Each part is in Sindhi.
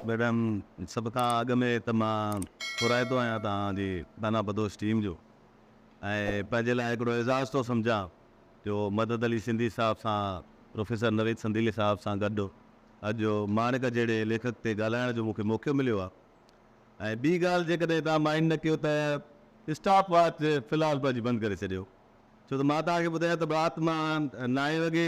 ميڊم سڀ کان اڳ ۾ ته مان ٿورائتو آهيان توهان جي دانا بدوش ٽيم جو ۽ پنهنجي لاء هڪڙو اعزاز ٿو سمجهان جو مدد علي سنڌي صاحب سان پروفيسر نويد سنديلي صاحب سان گڏ اڄ ماڻڪ جهڙي ليکڪ تي ڳالهائڻ جو مون کي موقعو مليو آهي ۽ ٻي ڳالهه جيڪڏهن توهان مائنڊ نه ڪيو ته اسٽاپ واچ في الحال پنهنجي بند ڪري ڇڏيو ڇو ته مان توهان کي ٻڌايان ته رات مان نائين وڳي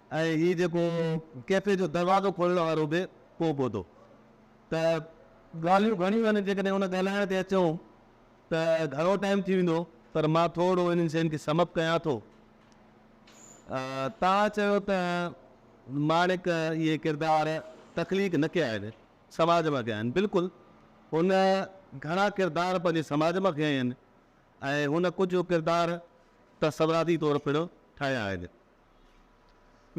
۽ هي جيڪو ڪيفي جو دروازو کولڻ وارو به ڪو ڪوتو ته ڳالهيون گهڻيون آهن جيڪڏهن ان ڳالهائڻ تي اچون ته گهڻو ٽائيم ٿي ويندو پر مان ٿورڙو انهن شين کي سمپ ڪيان ٿو تان چيو ته ماڻڪ اهي ڪردار تخليق نه ڪيا آهن سماج مان ڪيا آهن بلڪل هن گهڻا ڪردار پنهنجي سماج مان کنيا آهن ۽ هن ڪجهه ڪردار تصوراتي طور پڻ ٺاهيا آهن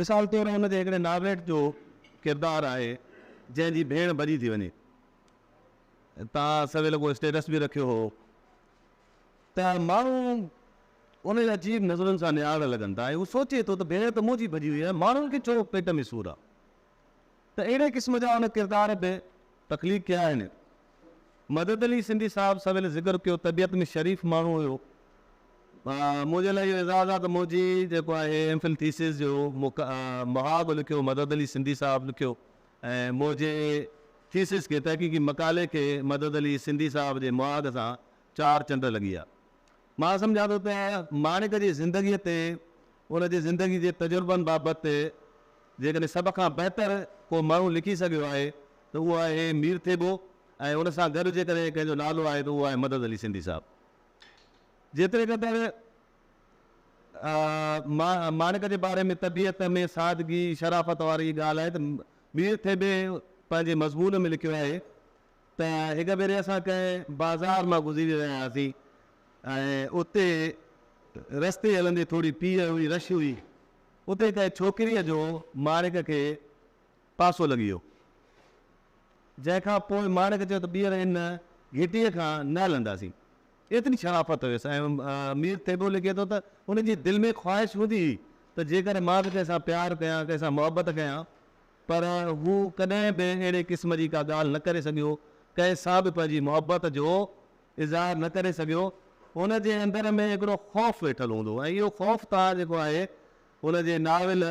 مثال طور ان جي هڪڙي نارويٽ جو ڪردار آهي جنهن جي ڀيڻ ڀڄي ٿي وڃي. تان سويل ڪو اسٽيٽس به رکيو هو ته ماڻهو ان جي عجيب نظرن سان نهارڻ لڳن ٿا ۽ هو سوچي ٿو ته ڀيڻ ته منهنجي ڀڄي وئي آهي ماڻهن کي ڇو پيٽ ۾ سور آهي. ته اهڙي قسم جا هن ڪردار به تخليق ڪيا آهن. مدد علي سنڌي صاحب سويل ذڪر ڪيو طبيعت ۾ شريف ماڻهو هيو. منهنجي لاء اهو اعزاز آهي ته منهنجي جيڪو آهي ايم فل ٿيسز جو محاڳ لکيو مدد علي سنڌي صاحب لکيو ۽ منهنجي ٿيسز کي تحقيقي مقالي کي مدد علي سنڌي صاحب جي محاڳ سان چار چنڊ لڳي ويا. مان سمجهان ٿو ته ماڻڪ جي زندگيء تي، ان جي زندگيء جي تجربن بابت جيڪڏهن سڀ کان بهتر ڪو ماڻهو لکي سگهيو آهي ته اهو آهي مير ٿيٻو ۽ ان سان گڏ جيڪڏهن ڪنهن جو نالو آهي ته اهو آهي مدد علي سنڌي صاحب. جيتري قدر ماڻڪ جي باري ۾ طبيعت ۾ سادگي، شرافت واري ڳالهه آهي ته مير ٿيٻي پنهنجي مضمون ۾ لکيو آهي ته هڪ ڀيري اسان ڪنهن بازار مان گذري رهيا هئاسين ۽ اتي رستي هلندي ٿوري پيهه هئي، رش هئي. اتي ڪنهن ڇوڪريء جو ماڻڪ کي پاسو لڳي ويو، جنهن کان پوء ماڻڪ چيو ته ٻيهر ان گهٽيء کان نه هلنداسين. ايتري شرافت هيس ۽ مير ٿيٻو لکي ٿو ته ان جي دل ۾ خواهش هوندي هئي ته جيڪڏهن مان به ڪنهن سان پيار ڪيان، ڪنهن سان محبت ڪيان پر هو ڪڏهن به اهڙي قسم جي ڪا ڳالهه نه ڪري سگهيو، ڪنهن سان به پنهنجي محبت جو اظهار نه ڪري سگهيو. هن جي اندر ۾ هڪڙو خوف ويٺل هوندو ۽ اهو خوف توهان جيڪو آهي هن جي ناول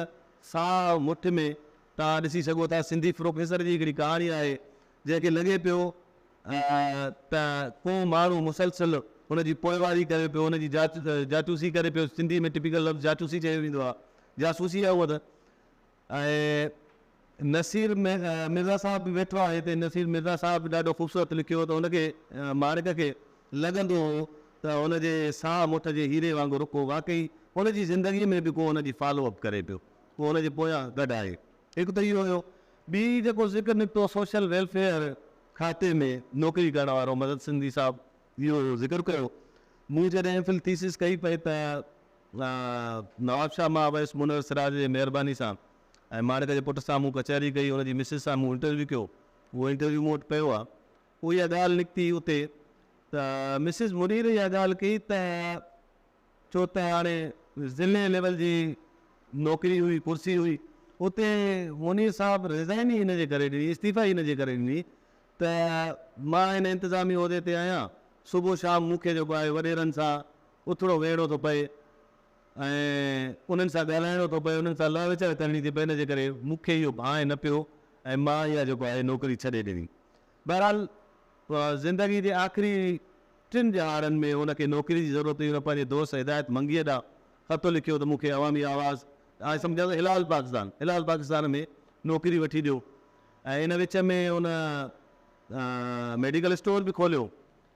ساهه مٺ ۾ توهان ڏسي سگهو ٿا. سنڌي پروفيسر جي هڪڙي ڪهاڻي آهي جنهن کي لڳي پيو ته ڪو ماڻهو مسلسل هن جي پوئواري ڪري پيو، هن جي جاچوسي ڪري پيو، سنڌي ۾ ٽپيڪل لفظ جاچوسي چيو ويندو آهي، جاسوسي آهي هوء ته. ۽ نصير مرزا صاحب به ويٺو آهي هتي نصير مرزا صاحب به ڏاڍو خوبصورت لکيو ته ان کي ماڻڪ کي لڳندو هو ته ان جي ساهه مٺ جي هيري وانگر ڪو واقعي ان جي زندگي ۾ به ڪو ان جي فالو اپ ڪري پيو ڪو ان جي پويان گڏ آهي هڪ ته اهو هيو ٻي جيڪو ذڪر نڪتو سوشل ويلفيئر کاتي ۾ نوڪري ڪرڻ وارو مدد سنڌي صاحب اهو ذڪر ڪيو مون جڏهن ايم فل ٿيسز ڪئي پئي ته نواب شاهه مان اويس منور سراج جي مهرباني سان ۽ ماڻڪ جي پٽ سان مون ڪچهري ڪئي، ان جي مسز سان مون انٽرويو ڪيو، اهو انٽرويو مون وٽ پيو آهي، پوء اها ڳالهه نڪتي اتي ته مسز منير اها ڳالهه ڪئي ته ڇو ته هاڻي ضلعي ليول جي نوڪري هئي، ڪرسي هئي، اتي منير صاحب رزائن ئي ان جي ڪري ڏني، استعيفا ئي ان جي ڪري ڏني ته مان هن انتظامي عهدي تي آهيان، صبح شام مون کي جيڪو آهي وڏيرن سان اٿڻو ويهڻو ٿو پئي ۽ انهن سان ڳالهائڻو ٿو پئي، انهن سان لاء وچاء ڪرڻي ٿي پئي، ان جي ڪري مون کي اهو ڀانء نه پيو ۽ مان اها جيڪو آهي نوڪري ڇڏي ڏني. بهرحال زندگي جي آخري ٽن ڄهاڙن ۾ هن کي نوڪري جي ضرورت هئي، هن پنهنجي دوست هدايت منگيء ڏانهن خط لکيو ته مون کي عوامي آواز، آء سمجهان ٿو هلال پاڪستان، هلال پاڪستان ۾ نوڪري وٺي ڏيو ۽ ان وچ ۾ هن ميڊيڪل اسٽور به کوليو.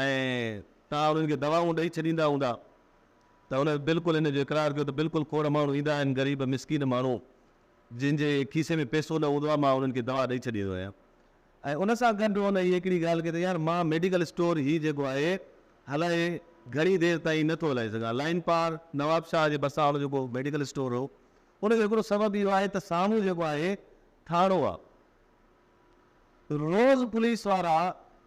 ۽ توهان انهن کي دوائون ڏئي ڇڏيندا هوندا ته هن بلڪل ان جو اقرار ڪيو ته بلڪل کوڙ ماڻهو ايندا آهن غريب مسڪين ماڻهو جن جي کيسي ۾ پئسو نه هوندو آهي مان انهن کي دوا ڏئي ڇڏيندو آهيان ۽ ان سان گڏ هن هي هڪڙي ڳالهه ڪئي ته يار مان ميڊيڪل اسٽور هي جيڪو آهي هلائي گهڻي دير تائين نه ٿو هلائي سگهان لائين پار نواب شاهه جي ڀرسان هن جيڪو ميڊيڪل اسٽور هو ان جو هڪڙو سبب اهو آهي ته سامهون جيڪو آهي ٿاڻو آهي روز پوليس وارا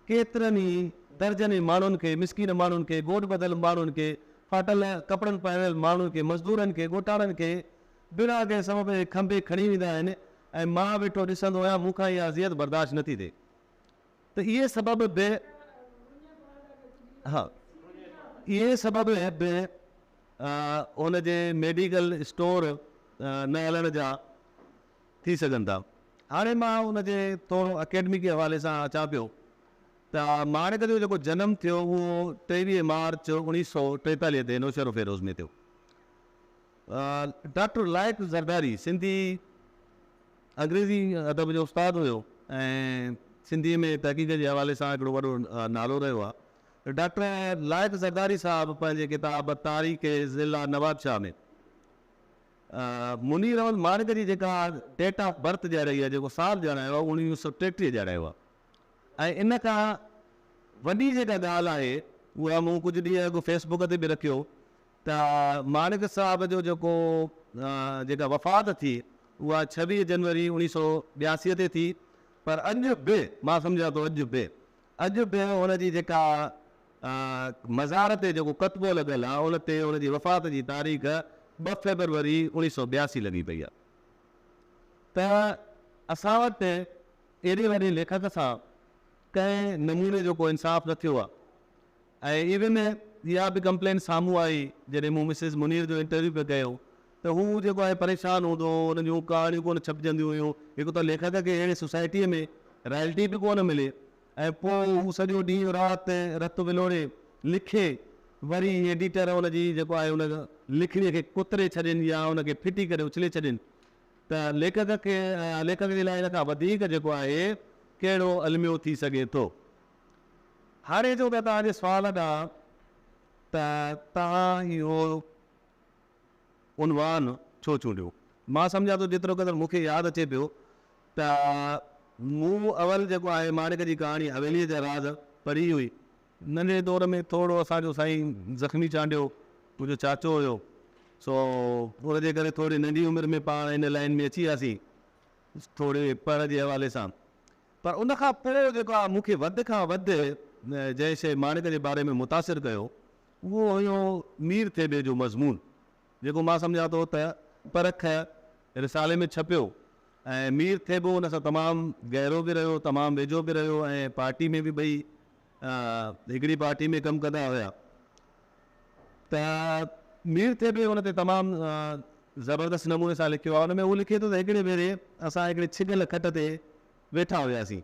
ڪيترن ئي درجنين ماڻهن کي، مسڪين ماڻهن کي، گوڏ ٻڌل ماڻهن کي، ڦاٽل ڪپڙن پهريل ماڻهن کي، مزدورن کي، ڳوٺاڻن کي بنا ڪنهن سبب جي کنڀي کڻي ويندا آهن ۽ مان ويٺو ڏسندو آهيان، مون کان اها اذيت برداشت نٿي ٿئي ته اهي سبب به ها اهي سبب به هن جي ميڊيڪل اسٽور نه هلڻ جا ٿي سگهن ٿا. هاڻي مان ان جي ٿورو اڪيڊمڪ جي حوالي سان اچان پيو ته ماڻڪ جو جيڪو جنم ٿيو اهو ٽيويهه مارچ اوڻيهه سؤ ٽيتاليهه تي نوشهروفيروز ۾ ٿيو. ڊاڪٽر لائق زرداري سنڌي انگريزي ادب جو استاد هيو ۽ سنڌي ۾ تحقيق جي حوالي سان هڪڙو وڏو نالو رهيو آهي. ڊاڪٽر لائق زرداري صاحب پنهنجي ڪتاب تاريخ ضلع نوابشاهه ۾. منير احمد مارڪ جي جيڪا ڊيٽ آف برٿ ڄاڻائي آهي، جيڪو سال ڄاڻايو آهي، اهو اوڻويهه سؤ ٽيٽيهه ڄاڻايو آهي ۽ ان کان وڏي جيڪا ڳالهه آهي اها مون ڪجهه ڏينهن اڳ فيس بوڪ تي به رکيو ته مارڪ صاحب جو جيڪو جيڪا وفات ٿي اها ڇويهه جنوري اوڻيهه سؤ ٻياسي تي ٿي پر اڄ به مان سمجهان ٿو اڄ به اڄ به هن جي جيڪا مزار تي جيڪو ڪتبو لڳل آ ان تي ان جي وفات جي تاريخ ٻه فيبروري اوڻيهه سؤ ٻياسي لڳي پئي آ ته اسان وٽ ايڏي وڏي ليکڪ سان ڪنهن نموني جو ڪو انصاف نه ٿيو آ ۽ ايون اها به ڪمپلين سامهون آئي جڏهن مون مسز منير جو انٽرويو پي ڪيو ته هو جيڪو آهي پريشان هوندو هو ان جون ڪهاڻيون ڪونه ڇپجنديون هيون هڪ ته ليکڪ کي اهڙي سوسائٽيء ۾ رائلٽي به ڪونه ملي ۽ پوء هو سڄو ڏينهن رات رت ولوڙي لکي، وري ايڊيٽر هن جي جيڪو آهي ان لکڻي کي ڪتري ڇڏين يا ان کي ڦٽي ڪري اڇلي ڇڏين ته ليکڪ کي ليکڪ جي لاء ان کان وڌيڪ جيڪو آهي ڪهڙو الميو ٿي سگهي ٿو. هاڻي اچون ٿا توهان جي سوال ڏانهن ته توهان اهو عنوان ڇو چونڊيو؟ مان سمجهان ٿو جيترو قدر مون کي ياد اچي پيو ته مون اول جيڪو آهي ماڻڪ جي ڪهاڻي حويليء جا راز پڙهي هئي. ننڍڙي دور ۾ ٿورڙو اسان جو سائين زخمي چانڊيو منهنجو چاچو هيو، سو ان جي ڪري ٿورڙي ننڍي عمر ۾ پاڻ ان لائين ۾ اچي وياسين، ٿورڙي پڙهه جي حوالي سان. پر ان کان پوء جيڪو آهي مون کي وڌ کان وڌ جنهن شيء ماڻڪ جي باري ۾ متاثر ڪيو، اهو هيو مير ٿيٻي جو مضمون. جيڪو مان سمجهان ٿو ته پرک رسالي ۾ ڇپيو ۽ مير ٿيٻو ان سان تمام گهرو به رهيو، تمام ويجهو به رهيو ۽ پارٽي ۾ به ٻئي هڪڙي پارٽي ۾ ڪم ڪندا هيا ته مير ٿيٻي ان تي تمام زبردست نموني سان لکيو آهي، ان ۾ هو لکي ٿو ته هڪڙي ڀيري اسان هڪڙي ڇڳل کٽ تي ويٺا هياسين.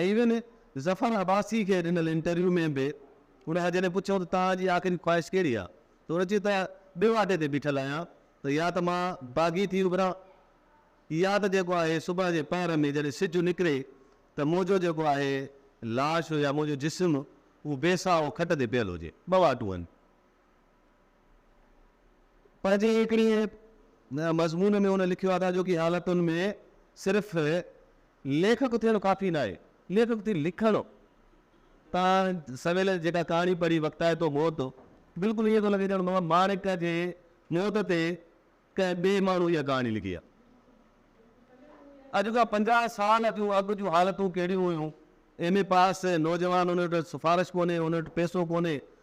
ايوين ظفر عباسي کي ڏنل انٽرويو ۾ به ان کان جڏهن پڇيو ته توهان جي آخري خواهش ڪهڙي آهي ته هن چيو ته ٻئي واٽي تي بيٺل آهيان ته يا ته مان باغي ٿي اڀران يا ته جيڪو آهي صبح جي پهر ۾ جڏهن سج نڪري ته منهنجو جيڪو آهي لاش يا منهنجو جسم اهو بي ساهو کٽ تي پيل هجي ٻه واٽون آهن پنهنجي هڪڙي مضمون ۾ هن لکيو آهي ته اڄوڪي حالتن ۾ صرف ليکڪ ٿيڻ ڪافي ناهي، ليکڪ ٿي لکڻ. تان سويل جيڪا ڪهاڻي پڙهي وقتائي ٿو موت، بلڪل ائين ٿو لڳي ڄڻ ماڻهو ماڻڪ جي موت تي ڪنهن ٻئي ماڻهو اها ڪهاڻي لکي آهي. اڄ کان پنجاهه سال اڳ جون حالتون ڪهڙيون هيون، ايم اي پاس نوجوان ان وٽ سفارش ڪونهي، ان وٽ پيسو ڪونهي،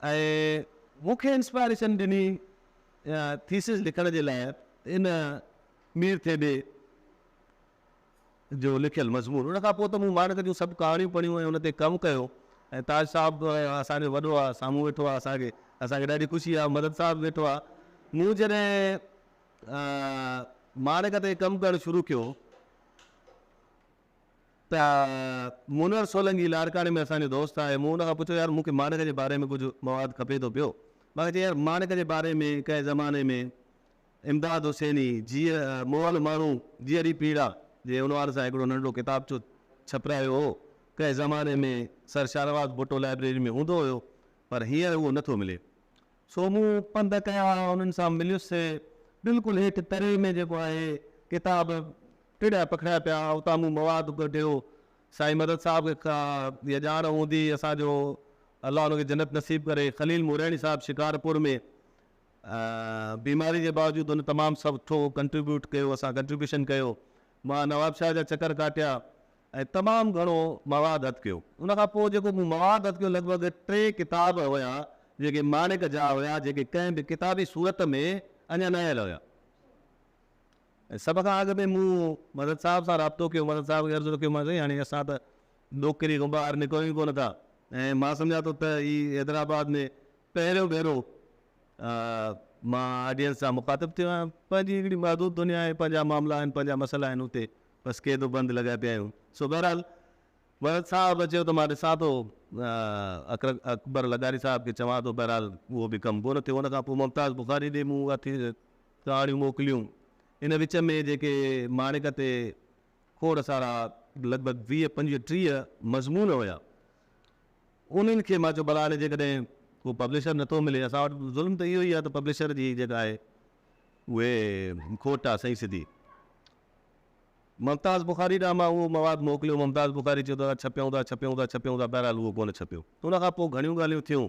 ۽ مون کي انسپائريشن ڏني ٿيسز لکڻ جي لاء ان مير ٿيٻي جو لکيل مضمون ان کان پوء ته مون ماڻڪ جون سڀ ڪهاڻيون پڙهيون ۽ ان تي ڪم ڪيو ۽ تاج صاحب اسان جو وڏو آهي سامهون ويٺو آهي اسان کي اسان کي ڏاڍي خوشي آهي مدد صاحب ويٺو آهي مون جڏهن ماڻڪ تي ڪم ڪرڻ شروع ڪيو ته منور سولنگي لاڙڪاڻي ۾ اسان جو دوست آهي، مون ان کان پڇيو يار مون کي ماڻڪ جي باري ۾ ڪجهه مواد کپي ٿو پيو، مانکي چيائين يار ماڻڪ جي باري ۾ ڪنهن زماني ۾ امداد حسيني جيء مئل ماڻهو جيئري پيڙا جي عنوان سان هڪڙو ننڍڙو ڪتابچو ڇپرايو هو، ڪنهن زماني ۾ سر شاهنواز ڀٽو لائبريري ۾ هوندو هيو پر هينئر اهو نه ٿو ملي. سو مون پنڌ ڪيا انهن سان مليس، بلڪل هيٺ تري ۾ جيڪو آهي ڪتاب ٽڙيا پکڙيا پيا اتان مون مواد ڪڍيو سائين مدد صاحب کي اها ڄاڻ هوندي اسان جو الله ان کي جنت نصيب ڪري خليل مورياڻي صاحب شڪارپور ۾ بيماري جي باوجود ان تمام سٺو ڪنٽريبيوٽ ڪيو اسان ڪنٽريبيوشن ڪيو مان نوابشاهه جا چڪر ڪاٽيا ۽ تمام گهڻو مواد هٿ ڪيو ان کان پوء جيڪو مون مواد هٿ ڪيو لڳ ڀڳ ٽي ڪتاب هيا جيڪي ماڻڪ جا هيا جيڪي ڪنهن به ڪتابي صورت ۾ اڃا نه آيل هيا سڀ کان اڳ ۾ مون مدد صاحب سان رابطو ڪيو، مدد صاحب کي عرض ڪيو مان سائين هاڻي اسان ته ڏوڪري کان ٻاهر نڪرون ئي ڪونه ٿا ۽ مان سمجهان ٿو ته هي حيدرآباد ۾ پهريون ڀيرو مان آڊينس سان مخاطب ٿيو آهيان، پنهنجي هڪڙي محدود دنيا آهي، پنهنجا معاملا آهن، پنهنجا مسئلا آهن، اتي بس قيد و بند لڳا پيا آهيون، سو بهرحال مدد صاحب چيو ته مان ڏسان ٿو اڪبر لغاري صاحب کي چوان ٿو، بهرحال اهو به ڪم ڪونه ٿيو، ان کان پوء ممتاز بخاري ڏي مون اٿي ساڙيون موڪليون. ان وچ ۾ جيڪي ماڻڪ تي کوڙ سارا لڳ ڀڳ ويهه پنجويهه ٽيهه مضمون هيا انهن کي مان چيو ڀلا هاڻي جيڪڏهن ڪو پبلشر نٿو ملي اسان وٽ ظلم ته اهو ئي آهي ته پبلشر جي جيڪا آهي اهي کوٽ آهي سائين سڌي ممتاز بخاري ڏانهن مان اهو مواد موڪليو ممتاز بخاري چيو ته ڇپيون ٿا ڇپيون ٿا ڇپيون ٿا بهرحال اهو ڪونه ڇپيو ان کان پوء گهڻيون ڳالهيون ٿيون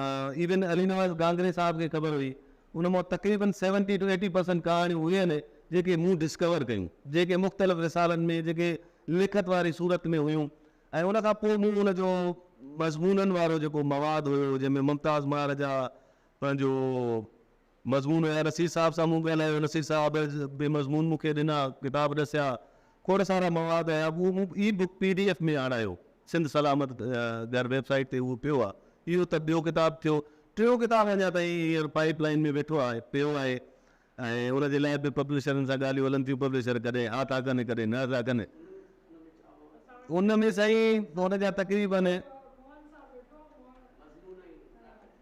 ايون علي نواز گانگري صاحب کي خبر هئي. ان مان تقريبن سيونٽي ٽو ايٽي پرسنٽ ڪهاڻيون اهي آهن جيڪي مون ڊسڪور ڪيون، جيڪي مختلف رسالن ۾ جيڪي لکت واري صورت ۾ هيون ۽ ان کان پوء مون ان جو مضمونن وارو جيڪو مواد هيو جنهن ۾ ممتاز مهاراجا پنهنجو مضمون ۽ نصير صاحب سان مون ڳالهايو، نصير صاحب به مضمون مون کي ڏنا، ڪتاب ڏسيا، کوڙ سارا مواد هيا، اهو مون ebook P D F ۾ آڻايو، سنڌ سلامت گهر ويب سائيٽ تي اهو پيو آهي، اهو ته ٻيو ڪتاب ٿيو، ٽيون ڪتاب اڃا تائين هينئر پائيپ لائين ۾ ويٺو آهي، پيو آهي ۽ ان جي لاء به پبلشرن سان ڳالهيون هلن ٿيون، پبلشر ڪڏهن ها ٿا ڪن ڪڏهن نه ٿا ڪن، ان ۾ سائين ان جا تقريبن.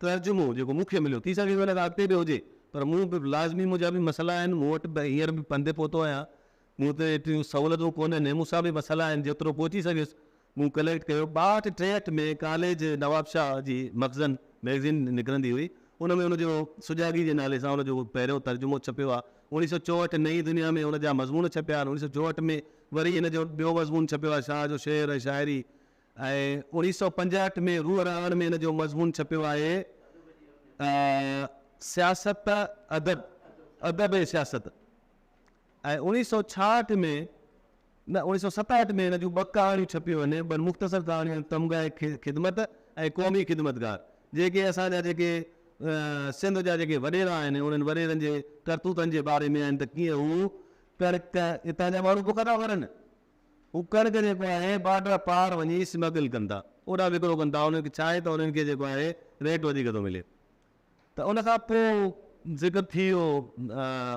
ترجمو جيڪو مون کي مليو، ٿي سگهي ٿو ان کان اڳتي به هجي، پر مون به لازمي منهنجا به مسئلا آهن، مون وٽ به هينئر به پنڌ تي پهتو آهيان، مون تي ايتريون سهولتون ڪونهن ۽ مون سان به مسئلا آهن، جيترو پهچي سگهيس مون ڪليڪٽ ڪيو. ٻاهٺ ٽيهٺ ۾ ڪاليج نوابشاهه جي مخزن مئگزين نڪرندي هئي، ان ۾ ان جو سجاڳي جي نالي سان ان جو پهريون ترجمو ڇپيو آهي، اوڻيهه سؤ چوهٺ نئين دنيا ۾ ان جا مضمون ڇپيا آهن، اوڻيهه سؤ چوهٺ ۾ وري ان جو ٻيو مضمون ڇپيو آهي شاهه جو شعر ۽ شاعري، ۽ اوڻيهه سؤ پنجاهٺ ۾ روح رهاڻ ۾ ان جو مضمون ڇپيو آهي ته سياست ادب، ادب ۽ سياست. ۽ اوڻيهه سؤ ڇاهٺ ۾ نه اوڻيهه سؤ ستاهٺ ۾ ان جون ٻه ڪهاڻيون ڇپيون آهن، ٻن مختصر ڪهاڻيون تمغه خدمت ۽ قومي خدمتگار، جيڪي اسان جا جيڪي سنڌ جا جيڪي وڏيرا آهن انهن وڏيرن جي ڪرتوتن جي باري ۾ آهن ته ڪيئن هو ڪڻڪ اتان جا ماڻهو بک ٿا مرن. هو ڪڻڪ جيڪو آهي بارڊر پار وڃي اسمگل ڪن ٿا اوڏانهن وڪرو ڪن ٿا انهن کي ڇا آهي ته انهن کي جيڪو آهي ريٽ وڌيڪ ٿو ملي ته ان کان پوء ذڪر ٿي ويو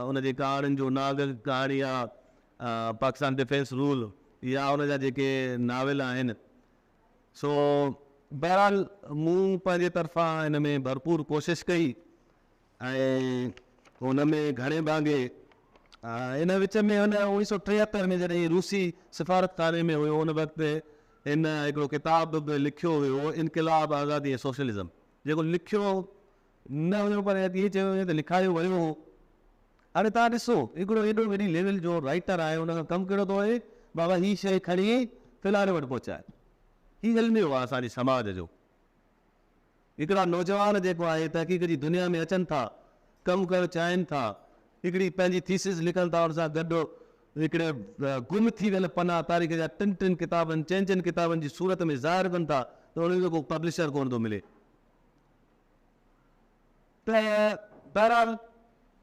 ان جي ڪهاڻين جو ناگ ڪهاڻي آ پاڪستان ڊفينس رول يا ان جا جيڪي ناول آهن سو بهرحال مون پنهنجي طرفان ان ۾ ڀرپور ڪوشش ڪئي ۽ ان ۾ گهڻي ڀاڱي ان وچ ۾ هن اوڻيهه سؤ ٽيهتر ۾ جڏهن روسي سفارتخاني ۾ هيو ان وقت هن هڪڙو ڪتاب به لکيو هيو انقلاب آزادي ۽ سوشلزم جيڪو لکيو نه هيو پر ايئن چيو وڃي ته لکايو ويو هو هاڻي تان ڏسو هڪڙو ايڏو وڏي ليول جو رائٽر آهي ان کان ڪم ڪهڙو ٿو هي بابا هي شيء کڻي فلاڻي وٽ پهچاء هي علميو آهي اسان جي سماج جو هڪڙا نوجوان جيڪو آهي تحقيق جي دنيا ۾ اچن ٿا ڪم ڪرڻ چاهين ٿا هڪڙي پنهنجي ٿيسز لکن ٿا ان سان گڏ هڪڙي گم ٿي ويل پنا تاريخ جا ٽن ٽن ڪتابن چئن چئن ڪتابن جي صورت ۾ ظاهر ڪن ٿا ته انهن کي ڪو پبلشر ڪونه ٿو ملي ته بهرحال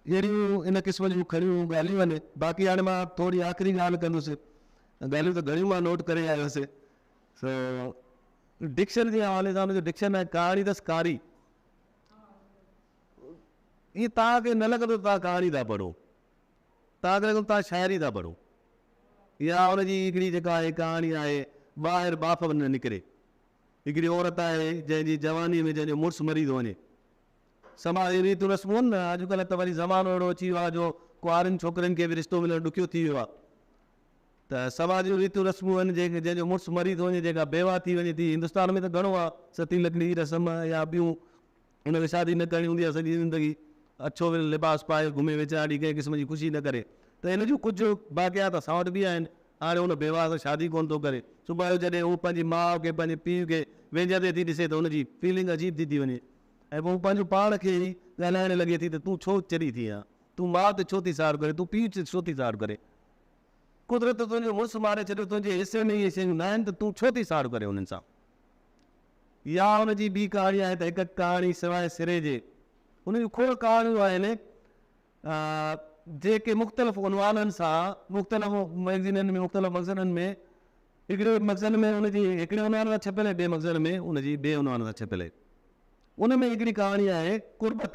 اهڙيون ان قسم جون کڻيون ڳالهيون آهن باقي هاڻي مان ٿوري آخري ڳالهه ڪندس ڳالهيون ته گهڻيون مان نوٽ ڪري آيو هوسي سو ڊڪشن جي حوالي سان جو ڊڪشن ۽ ڪهاڻي اٿس ڪاري ائين تان کي نه لڳندو تان ڪهاڻي ٿا پڙهو تان کي لڳندو تان شاعري ٿا پڙهو يا ان جي هڪڙي جيڪا آهي ڪهاڻي آهي ٻاهر ٻاڦ نه نڪري هڪڙي عورت آهي جنهن جي جواني ۾ جنهن جو مڙس مري ٿو وڃي سما اهي ريتون رسمون آهن نه اڄڪلهه ته وري زمانو اهڙو اچي ويو آهي جو ڪوارين ڇوڪرين کي به رشتو ملڻ ڏکيو ٿي ويو آهي ته سوا جون ريتون رسمون آهن جنهن جنهن جو مڙس مري ٿو وڃي جيڪا بيواهه ٿي وڃي ٿي هندستان ۾ ته گهڻو آهي ستي لڪڙي جي رسم يا ٻيون ان کي شادي نه ڪرڻي هوندي آهي سڄي زندگي اڇو ول لباس پائي گهمي ويچارا ڏينهن ڪنهن قسم جي خوشي نه ڪري ته ان جون ڪجهه باقيات اسان وٽ به آهن هاڻي هن بيواهه سان شادي ڪونه ٿو ڪري صبح جو جڏهن هو پنهنجي ماء کي پنهنجي پيء کي ويجهندي ٿي ڏسي ته ان جي فيلنگ عجيب ٿي ٿي وڃي ۽ پوء هو پنهنجو پاڻ کي ئي ڳالهائڻ لڳي ٿي ته تون ڇو چري ٿي آهين تون ماء تي ڇو ٿي ساڙ ڪرين تون پيء تي ڇو ٿي ساڙ ڪرين قدرت تنهنجو مڙس ماري ڇڏيو، تنهنجي حصي ۾ اهي شيون ناهن ته تون ڇو ٿي ساڙ ڪرين انهن سان؟ اها ان جي ٻي ڪهاڻي آهي ته هڪ ڪهاڻي سواء سري جي ان جون کوڙ ڪهاڻيون آهن جيڪي مختلف عنوانن سان مختلف مئگزينن ۾ مختلف مخزنن ۾ هڪڙي مخزن ۾ ان جي هڪڙي عنوان سان ڇپيل آهي ٻئي مخزن ۾ ان جي ٻئي عنوان سان ڇپيل آهي. ان ۾ هڪڙي ڪهاڻي آهي قربت.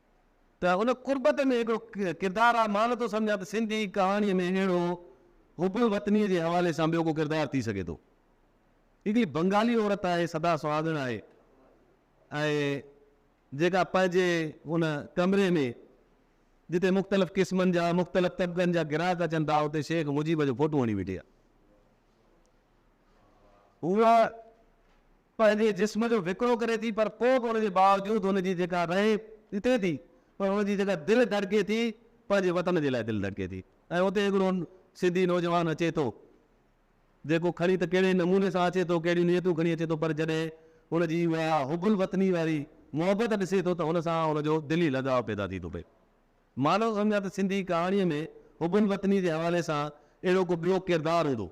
ته ان قربت ۾ هڪڙو ڪردار آ، مان نٿو سمجهان ته سنڌي ڪهاڻيء ۾ اهڙو حب الوطنيء جي حوالي سان ٻيو ڪو ڪردار ٿي سگهي ٿو. هڪڙي بنگالي عورت آهي، سدا سهاڳڻ آهي ۽ جيڪا پنهنجي ان ڪمري ۾ جتي مختلف قسمن جا مختلف طبقن جا گراهڪ اچن ٿا، اتي شيخ مجيب جو فوٽو هڻي ويٺي آ. هوء پنهنجي جسم جو وڪرو ڪري ٿي پر پوء به ان جي باوجود هن جي جيڪا رهي ڏتي ٿي پر هن جي جيڪا دل ڌڙڪي ٿي پنهنجي وطن جي لاء دل ڌڙڪي ٿي ۽ اتي هڪڙو سنڌي نوجوان اچي ٿو جيڪو کڻي ته ڪهڙي نموني سان اچي ٿو ڪهڙيون نيتون کڻي اچي ٿو پر جڏهن هن جي اها حب الوطني واري محبت ڏسي ٿو ته ان سان ان جو دلي لڳاء پيدا ٿي ٿو پئي مان نٿو سمجهان ته سنڌي ڪهاڻيء ۾ حب الوطني جي حوالي سان اهڙو ڪو ٻيو ڪردار هوندو.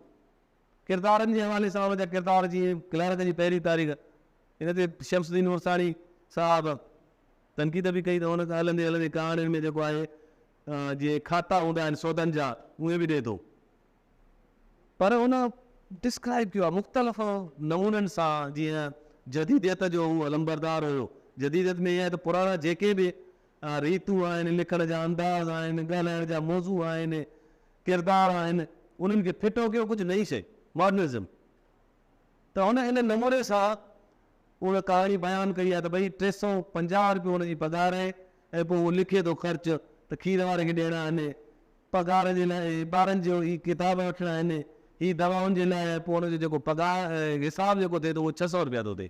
ڪردارن جي حوالي سان ان جا ڪردار جيئن ڪلارڪ جي پهرين تاريخ ان تي شمس الدين عرساڻي صاحب تنقيد به ڪئي ته هن هلندي هلندي ڪهاڻين ۾ جيڪو آهي جيئن کاتا هوندا آهن سودن جا اهي به ڏئي ٿو پر هن ڊسڪرائيب ڪيو آهي مختلف نمونن سان جيئن جديديت جو هو علمبردار هيو جديديت ۾ اها ته پراڻا جيڪي به ريتون آهن، لکڻ جا انداز آهن، ڳالهائڻ جا موضوع آهن، ڪردار آهن، انهن کي ڦٽو ڪيو ڪجهه نئين شئي، ماڊرنزم. ته هن ان نموني سان اها ڪهاڻي بيان ڪئي آهي ته ڀئي ٽي سؤ پنجاهه روپيو هن جي پگهار آهي ۽ پوء هو لکي ٿو خرچ ته کير واري کي ڏيڻا آهن، پگهار جي لاء ٻارن جو هي ڪتاب وٺڻا آهن، هي دوائن جي لاء ۽ پوء هن جو جيڪو پگهار حساب جيڪو ٿئي ٿو اهو ڇهه سؤ روپيا ٿو ٿئي.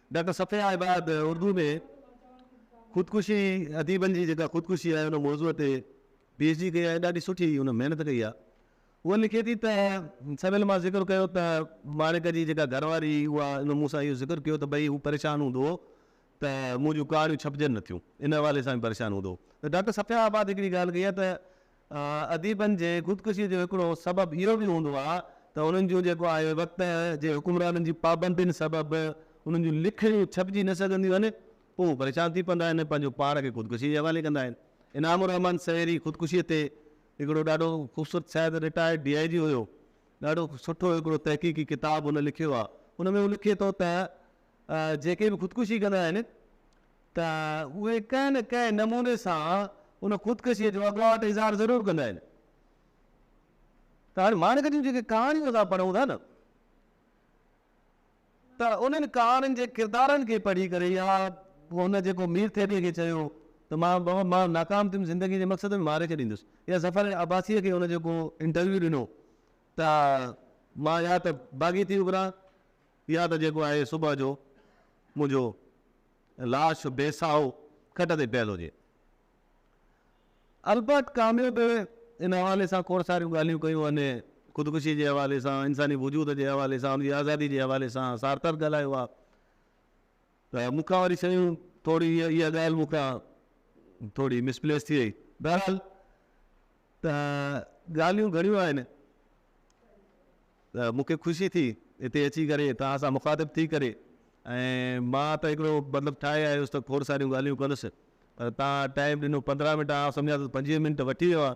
ڊاڪٽر صفيه عباد اردو ۾ خودڪشي اديبن جي جيڪا خودڪشي آهي ان موضوع تي پي ايڇ ڊي ڪئي آهي ڏاڍي سٺي هن محنت ڪئي آهي هوء لکي ٿي ته سويل مان ذڪر ڪيو ته ماڻڪ جي جيڪا گهر واري هئي اها ان مون سان اهو ذڪر ڪيو ته ڀئي هو پريشان هوندو هو ته منهنجون ڪهاڻيون ڇپجن نه ٿيون ان حوالي سان به پريشان هوندو هو ته ڊاڪٽر صفيه عباد هڪڙي ڳالهه ڪئي آهي ته اديبن جي خودڪشيء جو هڪڙو سبب اهو به هوندو آهي ته انهن جون جيڪو آهي وقت جي حڪمرانن جي پابندين سبب انهن جون لکڻيون ڇپجي نه سگهنديون آهن، پوء هو پريشان ٿي پوندا آهن ۽ پنهنجو پاڻ کي خودڪشيء جي حوالي ڪندا آهن. انعام الرحمان سهري خودڪشيء تي هڪڙو ڏاڍو خوبصورت شايد رٽائرڊ ڊي آء جي هيو، ڏاڍو سٺو هڪڙو تحقيقي ڪتاب هن لکيو آهي. ان ۾ هو لکي ٿو ته جيڪي به خودڪشي ڪندا آهن ته اهي ڪنهن نه ڪنهن نموني سان ان خودڪشيء جو اڳواٽ اظهار ضرور ڪندا آهن. ته هاڻي ماڻڪ جون جيڪي ڪهاڻيون اسان پڙهون ٿا نه ته انهن ڪهاڻين جي ڪردارن کي پڙهي ڪري يا هن جيڪو مير ٿيلي کي چيو ته مان بابا مان ناڪام ٿيم زندگي جي مقصد ۾ ماري ڇڏيندس يا ظفر عباسيء کي هن جيڪو انٽرويو ڏنو ته مان يا ته باغي ٿي اڀران يا ته جيڪو آهي صبح جو منهنجو لاش بي ساهو کٽ تي پيل هجي. البت ڪاميو به ان حوالي سان کوڙ ساريون ڳالهيون ڪيون آهن. خودڪشي جي حوالي سان، انساني وجود جي حوالي سان، ان جي آزادي جي حوالي سان سارتر ڳالهايو آهي. ته مون کان وري شيون ٿوري اها ڳالهه مون کان ٿوري مسپليس ٿي وئي. بهرحال ته ڳالهيون گهڻيون آهن ته مون کي خوشي ٿي هتي اچي ڪري توهان سان مخاطب ٿي ڪري ۽ مان ته هڪڙو مطلب ٺاهي آيس ته کوڙ ساريون ڳالهيون ڪندس پر توهان ٽائيم ڏنو پندرهن منٽ آئون سمجهان ٿو پنجويهه منٽ وٺي ويو آهي.